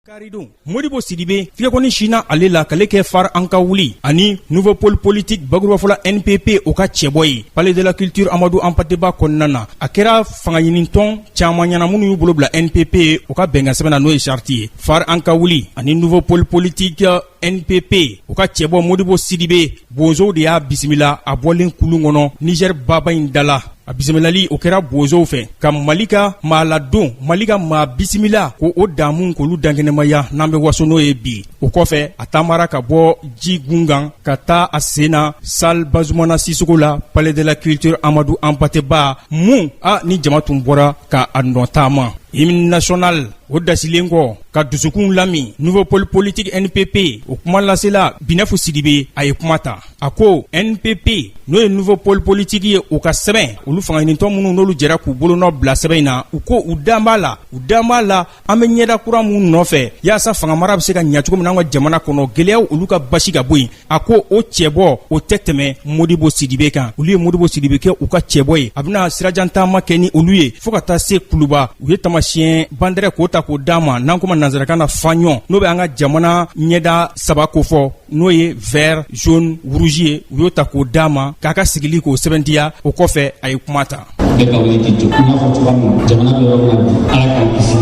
Karidon modibo sidibe fiɲɛkɔni sina ale la kale kɛ fare an ka wuli ani nouveau pole politique bakurubafɔla npp o ka cɛbɔ ye palais de la culture amadu anpate ba kɔnɔna na a kɛra fangaɲinintɔn caaman ɲɛna minnu y'u bolo bila npp o ka bɛnkansɛbɛn na n'o ye charte ye fare an ka wuli ani nouveau pole politique npp o ka cɛbɔ modibo sidibe bozow de y'a bisimila a bɔlen kulun kɔnɔ nizɛri baba in dala a bisimilali o kɛra bozow fɛ ka mali ka maa ladon mali ka maa bisimila ko o damu k'olu dankɛnɛmaya n'an bɛ waso n'o ye bi o kɔfɛ a taamara ka bɔ ji gun kan ka taa a sen na salle bazumana sisoko la palais de la culture amadu anpate ba mun a ni jama tun bɔra ka a nɔ taama hymne national o dasilen kɔ ka dusukun lami nouveau pole politique NPP o kumalasela Binɛfu Sidibe a ye kuma ta a ko NPP n'o ye nouveau pole politique ye o ka sɛbɛn olu fangaɲinitɔn minnu n'olu jɛra k'u bolonɔ bila sɛbɛn in na u ko u dan b'a la u dan b'a la an bɛ ɲɛda kura minnu nɔfɛ yaasa fangamara bɛ se ka ɲɛ cogo min na an ka jamana kɔnɔ gɛlɛyaw olu ka basi ka bɔ yen a ko o cɛbɔ o tɛ tɛmɛ modibo sidibe kan olu ye modibo sidibe kɛ u ka cɛbɔ ye a bɛna sirajantaama kɛ ni olu ye fɔɔ ka taa se kuluba u ye taamasiyɛn bandɛrɛ k'o ta k'o d'a ma n'an kuma nansarakan na fanion n'o bɛ an ka jamana ɲɛda saba kofɔ n'o ye vert jaune rouge ye u y'o ta k'o d'a ma k'a ka sigili k'o sɛbɛntiya o kɔfɛ a ye kuma ta bɛɛ ka wuli k'i jɔ n y'a fɔ cogoya min na jamana bɛ yɔrɔ min na bi ala k'an kisi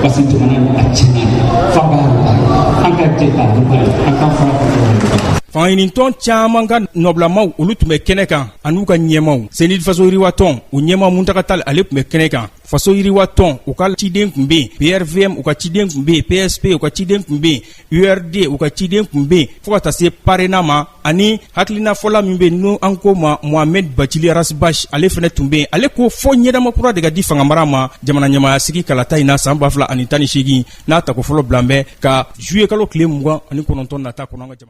parce que jamana nin a tiɲɛna fa b'a la an ka jɛ k'a dɔn bari an k'an fara ka ɲɔgɔn fangaɲinintɔn caman ka nɔbilamaw olu tun bɛ kɛnɛ kan an'u ka ɲɛmaaw cnid faso yiriwatɔn u ɲɛmaa muntaga tal ale tun bɛ kɛnɛ kan faso yiriwa tɔn u ka ciden tun be yen prvm u ka ciden tun be yen psp u ka ciden tun be yen urd u ka ciden tun be yen fɔɔ ka taa se parena ma ani hakilinafɔla min be n'o an ko ma mohamed bacili ras bath ale fɛnɛ tun be yen ale ko fɔɔ ɲɛdama kura de ka di fangamara ma jamana ɲɛmaaya sigi kalata in na san ba fila ani tan ni seegin n'a tako fɔlɔ bilan bɛ ka juillet kalo tile mugan ani kɔnɔntɔn nata kɔnɔ an ka